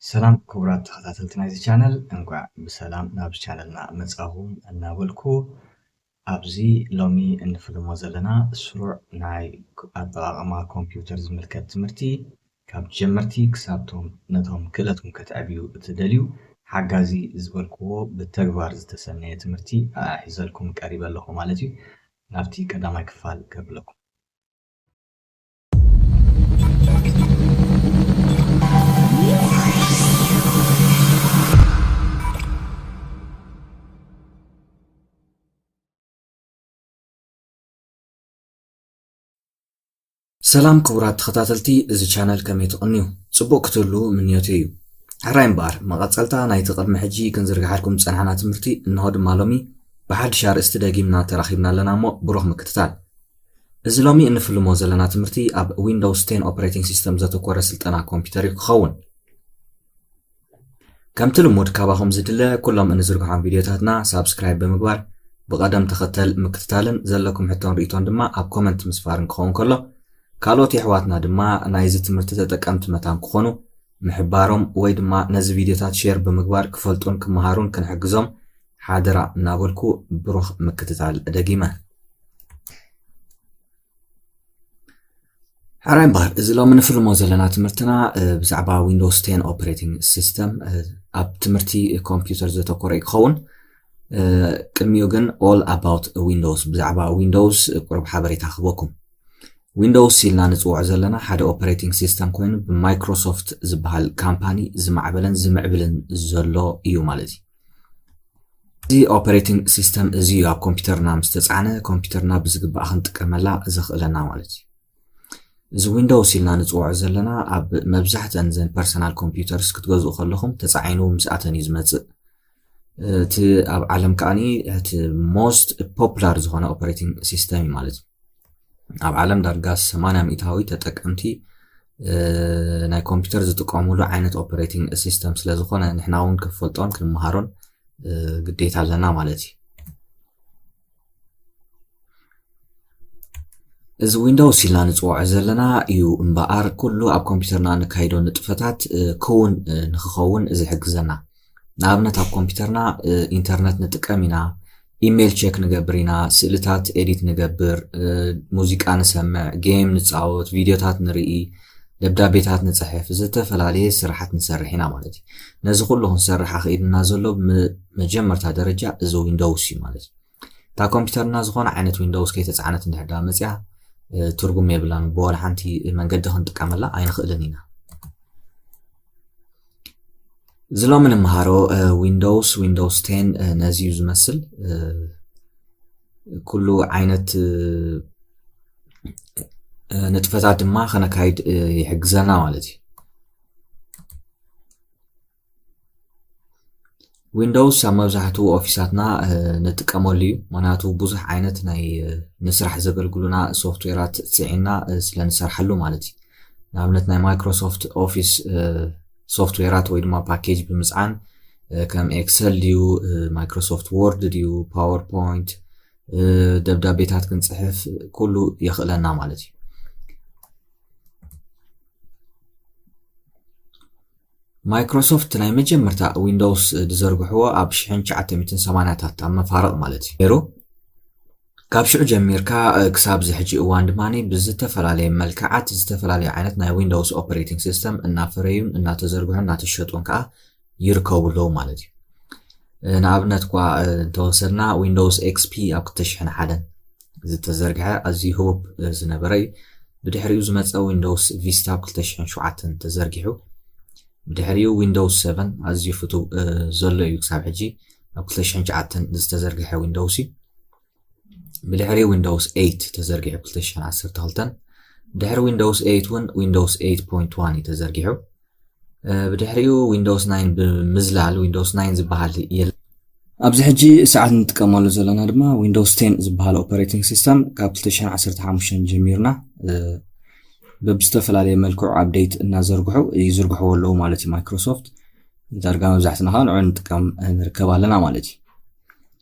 ሰላም ክቡራት ተኸታተልቲ ናይዚ ቻነል እንቋዕ ብሰላም ናብ ቻነልና መጻኹም እናበልኩ ኣብዚ ሎሚ እንፍልሞ ዘለና ስሩዕ ናይ ኣጠቓቕማ ኮምፒውተር ዝምልከት ትምህርቲ ካብ ጀመርቲ ክሳብቶም ነቶም ክእለትኩም ከተዕብዩ እትደልዩ ሓጋዚ ዝበልክዎ ብተግባር ዝተሰነየ ትምህርቲ ኣሒዘልኩም ቀሪበ ኣለኹ ማለት እዩ ናብቲ ቀዳማይ ክፋል ከብለኩም ሰላም ክቡራት ተኸታተልቲ እዚ ቻነል ከመይ ትቕንዩ ጽቡቕ ክትህሉ ምንዮት እዩ ሕራይ እምበኣር መቐጸልታ ናይቲ ቅድሚ ሕጂ ክንዝርግሓልኩም ዝጸናሕና ትምህርቲ እንሆ ድማ ሎሚ ብሓድሽ ኣርእስቲ ደጊምና ተራኺብና ኣለና እሞ ብሩኽ ምክትታል እዚ ሎሚ እንፍልሞ ዘለና ትምህርቲ ኣብ ዊንዶውስ ቴን ኦፕሬቲንግ ሲስተም ዘተኮረ ስልጠና ኮምፒውተር እዩ ክኸውን ከምቲ ልሙድ ካባኹም ዝድለ ኩሎም እንዝርግሖም ቪድዮታትና ሳብስክራይብ ብምግባር ብቐደም ተኸተል ምክትታልን ዘለኩም ሕቶን ርእቶን ድማ ኣብ ኮመንት ምስፋርን ክኸውን ከሎ ካልኦት የሕዋትና ድማ ናይዚ ትምህርቲ ተጠቀምቲ መታን ክኾኑ ምሕባሮም ወይ ድማ ነዚ ቪድዮታት ሼር ብምግባር ክፈልጡን ክመሃሩን ክንሕግዞም ሓደራ እናበልኩ ብሩኽ ምክትታል ደጊመ። ሕራይ እምበኣር እዚ ሎሚ ንፍልሞ ዘለና ትምህርትና ብዛዕባ ዊንዶውስ ቴን ኦፕሬቲንግ ሲስተም ኣብ ትምህርቲ ኮምፒውተር ዘተኮረ እዩ ክኸውን ቅድሚኡ ግን ኦል ኣባውት ዊንዶውስ ብዛዕባ ዊንዶውስ ቁሩብ ሓበሬታ ክህበኩም ዊንዶውስ ኢልና ንፅውዖ ዘለና ሓደ ኦፐሬቲንግ ሲስተም ኮይኑ ብማይክሮሶፍት ዝበሃል ካምፓኒ ዝማዕበለን ዝምዕብልን ዘሎ እዩ ማለት እዩ እዚ ኦፐሬቲንግ ሲስተም እዚ እዩ ኣብ ኮምፒውተርና ምስ ተፃዕነ ኮምፒውተርና ብዝግባእ ክንጥቀመላ ዘኽእለና ማለት እዩ እዚ ዊንዶውስ ኢልና ንፅውዖ ዘለና ኣብ መብዛሕተን ዘን ፐርሰናል ኮምፒውተርስ ክትገዝኡ ከለኹም ተፃዒኑ ምስኣተን እዩ ዝመፅእ እቲ ኣብ ዓለም ከዓኒ እቲ ሞስት ፖፕላር ዝኾነ ኦፐሬቲንግ ሲስተም እዩ ማለት እዩ ኣብ ዓለም ዳርጋ 80 ሚእታዊ ተጠቀምቲ ናይ ኮምፒውተር ዝጥቀሙሉ ዓይነት ኦፐሬቲንግ ሲስተም ስለ ዝኾነ ንሕና እውን ክንፈልጦን ክንመሃሮን ግዴታ ኣለና ማለት እዩ እዚ ዊንዶውስ ኢልና ንፅውዖ ዘለና እዩ እምበኣር ኩሉ ኣብ ኮምፒውተርና ንካይዶ ንጥፈታት ክውን ንክኸውን ዝሕግዘና ንኣብነት ኣብ ኮምፒተርና ኢንተርነት ንጥቀም ኢና ኢሜይል ቼክ ንገብር ኢና ስእልታት ኤዲት ንገብር ሙዚቃ ንሰምዕ ጌም ንፃወት ቪድዮታት ንርኢ ደብዳቤታት ንፅሕፍ ዝተፈላለየ ስራሓት ንሰርሕ ኢና ማለት እዩ ነዚ ኩሉ ክንሰርሕ ኣኽኢሉና ዘሎ መጀመርታ ደረጃ እዚ ዊንዶውስ እዩ ማለት እዩ እታ ኮምፒውተርና ዝኾነ ዓይነት ዊንዶውስ ከይተፃዕነት እንድሕር ዳ መፅያ ትርጉም የብላን ብወላ ሓንቲ መንገዲ ክንጥቀመላ ኣይንኽእልን ኢና እዚ ሎሚ ንመሃሮ ዊንዶውስ ዊንዶውስ ቴን ነዚ እዩ ዝመስል ኩሉ ዓይነት ንጥፈታት ድማ ከነካይድ ይሕግዘና ማለት እዩ ዊንዶውስ ኣብ መብዛሕትኡ ኦፊሳትና ንጥቀመሉ እዩ ምክንያቱ ብዙሕ ዓይነት ናይ ንስራሕ ዘገልግሉና ሶፍትዌራት ፅዒና ስለ ንሰርሓሉ ማለት እዩ ንኣብነት ናይ ማይክሮሶፍት ኦፊስ ሶፍትዌራት ወይ ድማ ፓኬጅ ብምፅዓን ከም ኤክሰል ድዩ ማይክሮሶፍት ወርድ ድዩ ፓወርፖይንት ደብዳቤታት ክንፅሕፍ ኩሉ የኽእለና ማለት እዩ ማይክሮሶፍት ናይ መጀመርታ ዊንዶውስ ዝዘርግሕዎ ኣብ ሽሕን ትሽዓተ ሚእትን ሰማንያታት ኣብ መፋርቕ ማለት እዩ ነይሩ። ካብ ሽዑ ጀሚርካ ክሳብ እዚ ሕጂ እዋን ድማ ብዝተፈላለየ መልክዓት ዝተፈላለዩ ዓይነት ናይ ዊንዶውስ ኦፐሬቲንግ ሲስተም እናፈረዩን እናተዘርግሑን እናተሸጡን ከዓ ይርከቡ ኣለዉ ማለት እዩ። ንኣብነት እኳ እንተወሰድና ዊንዶውስ ኤክስፒ ኣብ ክልተ ሽሕን ሓደን ዝተዘርግሐ ኣዝዩ ህቡብ ዝነበረ እዩ። ብድሕሪኡ ዝመጸ ዊንዶውስ ቪስታ ኣብ ክልተ ሽሕን ሸውዓተን ተዘርጊሑ። ብድሕሪኡ ዊንዶውስ ሰቨን ኣዝዩ ፍቱው ዘሎ እዩ ክሳብ ሕጂ ኣብ ክልተ ሽሕን ሸውዓተን ዝተዘርግሐ ዊንዶውስ እዩ። ብድሕሪኡ ዊንዶውስ ኤይት ተዘርጊሑ ክልተ ሽሕን ዓሰርተ ክልተን ድሕሪ ዊንዶውስ ኤይት እውን ዊንዶውስ ኤይት ፖይንት ዋን እዩ ተዘርጊሑ። ብድሕሪኡ ዊንዶውስ ናይን ብምዝላል ዊንዶውስ ናይን ዝበሃል የለ ኣብዚ ሕጂ ሰዓት እንጥቀመሉ ዘለና ድማ ዊንዶውስ ቴን ዝበሃል ኦፐሬቲንግ ሲስተም ካብ 215 ጀሚርና ብዝተፈላለየ መልክዑ ኣብደይት እናዘርግሑ ይዝርግሕዎ ኣለዉ ማለት እዩ ማይክሮሶፍት ዳርጋ መብዛሕትና ከዓ ንዑ ንጥቀም ንርከብ ኣለና ማለት እዩ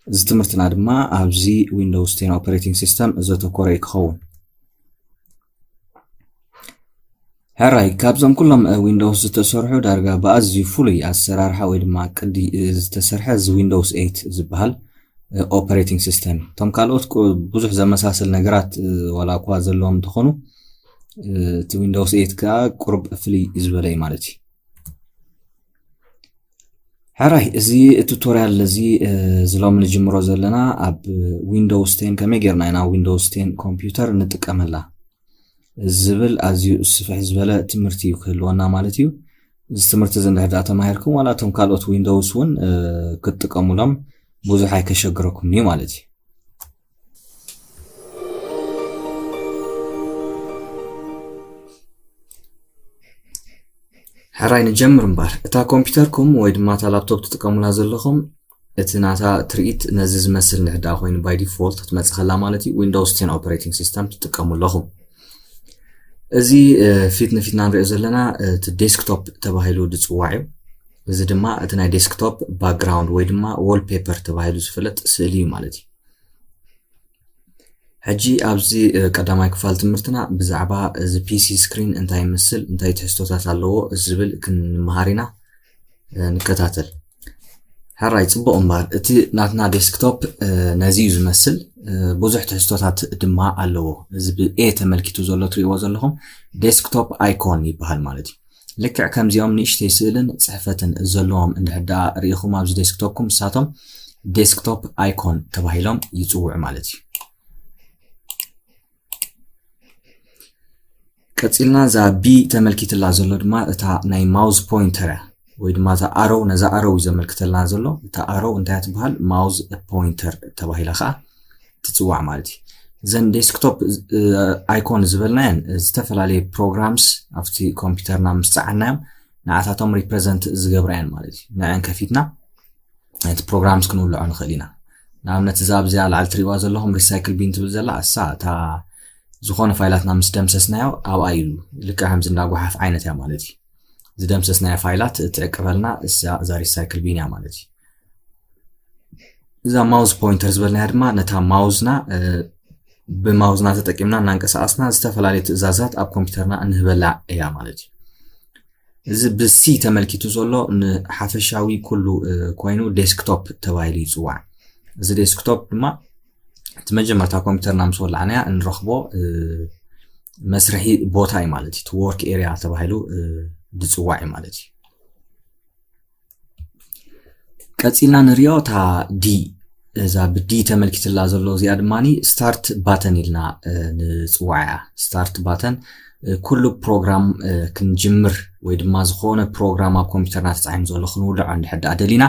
እዚ ትምህርትና ድማ ኣብዚ ዊንዶውስ ቴን ኦፐሬቲንግ ሲስተም ዘተኮረ እዩ ክኸውን ሕራይ ካብዞም ኩሎም ዊንዶውስ ዝተሰርሑ ዳርጋ ብኣዝዩ ፍሉይ ኣሰራርሓ ወይ ድማ ቅዲ ዝተሰርሐ እዚ ዊንዶውስ 8 ዝበሃል ኦፐሬቲንግ ሲስተም እዩ እቶም ካልኦት ብዙሕ ዘመሳሰል ነገራት ዋላ እኳ ዘለዎም እንትኾኑ እቲ ዊንዶውስ 8 ከዓ ቁርብ ፍልይ ዝበለ እዩ ማለት እዩ ሕራይ እዚ ቱቶሪያል እዚ ዝሎም ንጅምሮ ዘለና ኣብ ዊንዶውስ ቴን ከመይ ጌርና ኢና ዊንዶውስ ቴን ኮምፒውተር ንጥቀመላ ዝብል ኣዝዩ ስፍሕ ዝበለ ትምህርቲ እዩ ክህልወና ማለት እዩ እዚ ትምህርቲ እዚ እንድሕር ዳኣ ተማሂርኩም ዋላ እቶም ካልኦት ዊንዶውስ እውን ክትጥቀሙሎም ብዙሕ ኣይከሸግረኩምን እዩ ማለት እዩ ሕራይ ንጀምር እምበር እታ ኮምፒውተርኩም ወይ ድማ እታ ላፕቶፕ ትጥቀሙላ ዘለኹም እቲ ናታ ትርኢት ነዚ ዝመስል ንሕድኣ ኮይኑ ባይ ዲፎልት ክትመፅእ ከላ ማለት እዩ ዊንዶውስ ቴን ኦፐሬቲንግ ሲስተም ትጥቀሙ ኣለኹም እዚ ፊት ንፊትና ንሪኦ ዘለና እቲ ዴስክቶፕ ተባሂሉ ዝፅዋዕ እዩ እዚ ድማ እቲ ናይ ዴስክቶፕ ባክግራውንድ ወይ ድማ ዎል ፔፐር ተባሂሉ ዝፍለጥ ስእሊ እዩ ማለት እዩ ሕጂ ኣብዚ ቀዳማይ ክፋል ትምህርትና ብዛዕባ እዚ ፒሲ ስክሪን እንታይ ይመስል እንታይ ትሕዝቶታት ኣለዎ ዝብል ክንመሃር ኢና ንከታተል ሕራይ ፅቡቕ እምበር እቲ ናትና ዴስክቶፕ ነዚ እዩ ዝመስል ብዙሕ ትሕዝቶታት ድማ ኣለዎ እዚ ብኤ ተመልኪቱ ዘሎ ትሪእዎ ዘለኹም ዴስክቶፕ ኣይኮን ይበሃል ማለት እዩ ልክዕ ከምዚኦም ንእሽተይ ስእልን ጽሕፈትን ዘለዎም እንድሕር ደኣ ርኢኹም ኣብዚ ዴስክቶፕኩም ንሳቶም ዴስክቶፕ ኣይኮን ተባሂሎም ይጽውዑ ማለት እዩ። ቀጺልና እዛ ቢ ተመልኪትላ ዘሎ ድማ እታ ናይ ማውዝ ፖይንተር እያ ወይ ድማ እታ ኣሮው ነዛ ኣሮው እዩ ዘመልክተልና ዘሎ እታ ኣሮው እንታይ ትበሃል ማውዝ ፖይንተር ተባሂላ ከዓ ትፅዋዕ ማለት እዩ ዘን ዴስክቶፕ ኣይኮን ዝበልናየን ዝተፈላለየ ፕሮግራምስ ኣብቲ ኮምፒውተርና ምስ ፀዓናዮም ንዓታቶም ሪፕሬዘንት ዝገብራየን ማለት እዩ ንዐን ከፊትና ነቲ ፕሮግራምስ ክንውልዖ ንኽእል ኢና ንኣብነት እዛ ኣብዚኣ ላዕሊ ትሪእዋ ዘለኹም ሪሳይክል ቢን ትብል ዘላ እሳ እታ ዝኾነ ፋይላትና ምስ ደምሰስናዮ ኣብኣ ኢሉ ልክዕ ከምዚ እንዳጓሓፍ ዓይነት እያ ማለት እዩ ዝደምሰስናዮ ፋይላት እትዕቅበልና እዛ ሪሳይክል ቢን እያ ማለት እዩ እዛ ማውዝ ፖይንተር ዝበልናያ ድማ ነታ ማውዝና ብማውዝና ተጠቂምና እናንቀሳቀስና ዝተፈላለዩ ትእዛዛት ኣብ ኮምፒውተርና እንህበላ እያ ማለት እዩ እዚ ብሲ ተመልኪቱ ዘሎ ንሓፈሻዊ ኩሉ ኮይኑ ዴስክቶፕ ተባሂሉ ይፅዋዕ እዚ ዴስክቶፕ ድማ እቲ መጀመርታ ኮምፒውተርና ምስ ወላዕናያ እንረኽቦ መስርሒ ቦታ እዩ ማለት እዩ ወርክ ኤሪያ ተባሂሉ ዝፅዋዕ እዩ ማለት እዩ ቀፂልና ንሪኦ እታ ዲ እዛ ብዲ ተመልኪትላ ዘሎ እዚኣ ድማ ስታርት ባተን ኢልና ንፅዋዕ እያ ስታርት ባተን ኩሉ ፕሮግራም ክንጅምር ወይ ድማ ዝኾነ ፕሮግራም ኣብ ኮምፒውተርና ተፃሒኑ ዘሎ ክንውልዖ እንድሕር ደኣ ደሊና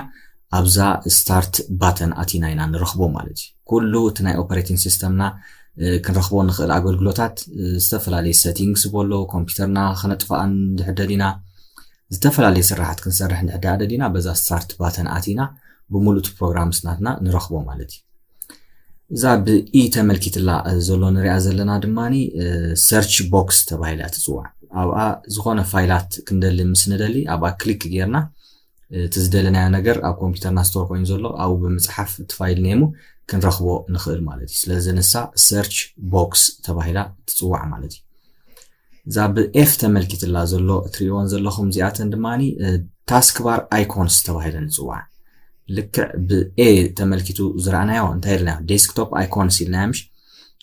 ኣብዛ ስታርት ባተን ኣቲና ኢና ንረኽቦ ማለት እዩ ኩሉ እቲ ናይ ኦፐሬቲንግ ሲስተምና ክንረኽቦ ንኽእል ኣገልግሎታት ዝተፈላለዩ ሰቲንግስ በሎ ኮምፒውተርና ክነጥፍኣን እንድሕር ደሊና ዝተፈላለየ ስራሓት ክንሰርሕ እንድሕድኣ ደሊና በዛ ስታርት ባተን ኣቲና ብምሉእ እቲ ፕሮግራምስ ናትና ንረኽቦ ማለት እዩ። እዛ ብኢ ተመልኪትላ ዘሎ ንሪኣ ዘለና ድማ ሰርች ቦክስ ተባሂላ እያ ትፅዋዕ። ኣብኣ ዝኾነ ፋይላት ክንደሊ ምስ ንደሊ ኣብኣ ክሊክ ጌርና እቲ ዝደለናዮ ነገር ኣብ ኮምፒውተርና ስቶር ኮይኑ ዘሎ ኣብኡ ብምፅሓፍ እቲ ፋይል ኔሙ ክንረኽቦ ንኽእል ማለት እዩ ስለዚ ንሳ ሰርች ቦክስ ተባሂላ ትፅዋዕ ማለት እዩ እዛ ብ F ተመልኪትላ ዘሎ እትርእይወን ዘለኹም እዚኣተን ድማ ታስክ ባር ኣይኮንስ ተባሂለን ይጽዋዓ። ልክዕ ብ A ተመልኪቱ ዝረኣናዮ እንታይ ኢልናዮ ዴስክቶፕ ኣይኮንስ ኢልናዮ ምሽ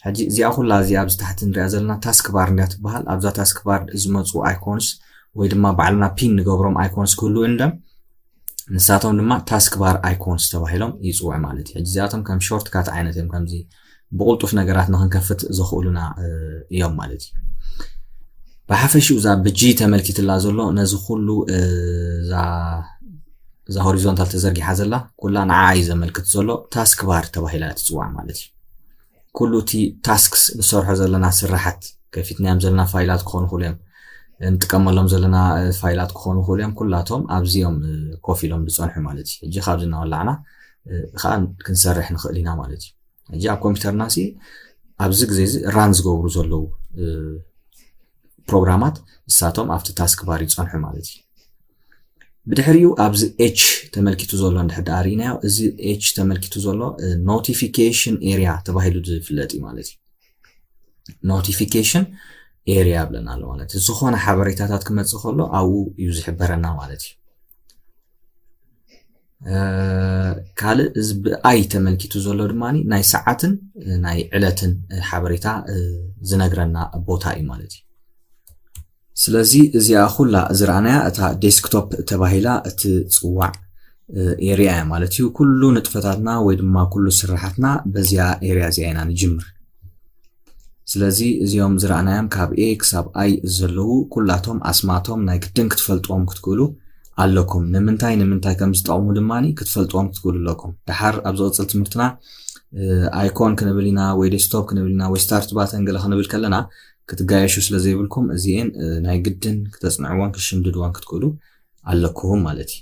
ሕጂ እዚኣ ኩላ እዚኣ ኣብዚ ታሕቲ ንሪኣ ዘለና ታስክ ባር እንዳ ትበሃል ኣብዛ ታስክ ባር ዝመፁ ኣይኮንስ ወይ ድማ ባዕልና ፒን ንገብሮም ኣይኮንስ ክህልው እንደም ንሳቶም ድማ ታስክ ባር ኣይኮንስ ተባሂሎም ይፅውዑ ማለት እዩ እዚኣቶም ከም ሾርት ካት ዓይነት እዮም ከምዚ ብቕልጡፍ ነገራት ንክንከፍት ዘኽእሉና እዮም ማለት እዩ ብሓፈሽኡ እዛ ብጂ ተመልኪትላ ዘሎ ነዚ ኩሉ እዛ ሆሪዞንታል ተዘርጊሓ ዘላ ኩላ ንዓ እዩ ዘመልክት ዘሎ ታስክ ባር ተባሂላ ትፅዋዕ ማለት እዩ ኩሉ እቲ ታስክስ ንሰርሖ ዘለና ስራሓት ከፊትናዮም ዘለና ፋይላት ክኾኑ ይኽእሉ እዮም ንጥቀመሎም ዘለና ፋይላት ክኾኑ ይኽእሉ እዮም ኩላቶም ኣብዚኦም ኮፍ ኢሎም ዝፀንሑ ማለት እዩ ሕጂ ካብዚ እናወላዕና ከዓ ክንሰርሕ ንኽእል ኢና ማለት እዩ ሕጂ ኣብ ኮምፒውተርና ሲ ኣብዚ ግዜ እዚ ራን ዝገብሩ ዘለዉ ፕሮግራማት ንሳቶም ኣብቲ ታስክ ባር ይፀንሑ ማለት እዩ ብድሕሪኡ ኣብዚ ኤች ተመልኪቱ ዘሎ እንድሕር ዳኣ ርኢናዮ እዚ ኤች ተመልኪቱ ዘሎ ኖቲፊኬሽን ኤሪያ ተባሂሉ ዝፍለጥ እዩ ማለት እዩ ኖቲፊኬሽን ኤሪያ ብለና ኣሎ ማለት እዩ ዝኾነ ሓበሬታታት ክመፅእ ከሎ ኣብኡ እዩ ዝሕበረና ማለት እዩ ካልእ እዚ ብኣይ ተመልኪቱ ዘሎ ድማ ናይ ሰዓትን ናይ ዕለትን ሓበሬታ ዝነግረና ቦታ እዩ ማለት እዩ ስለዚ እዚኣ ኩላ ዝረኣናያ እታ ዴስክቶፕ ተባሂላ እትጽዋዕ ኤርያ እያ ማለት እዩ። ኩሉ ንጥፈታትና ወይ ድማ ኩሉ ስራሓትና በዚኣ ኤርያ እዚኣ ኢና ንጅምር። ስለዚ እዚኦም ዝረኣናዮም ካብ ኤ ክሳብ ኣይ ዘለዉ ኩላቶም ኣስማቶም ናይ ግድን ክትፈልጥዎም ክትክእሉ ኣለኩም። ንምንታይ ንምንታይ ከም ዝጠቕሙ ድማ ክትፈልጥዎም ክትክእሉ ኣለኩም። ድሓር ኣብ ዝቕጽል ትምህርትና ኣይኮን ክንብል ኢና ወይ ዴስክቶፕ ክንብል ኢና ወይ ስታርት ባተን ገለ ክንብል ከለና ክትጋየሹ ስለ ዘይብልኩም እዚኤን ናይ ግድን ክተጽንዕዋን ክሽምድድዋን ክትክእሉ ኣለኩም ማለት እዩ።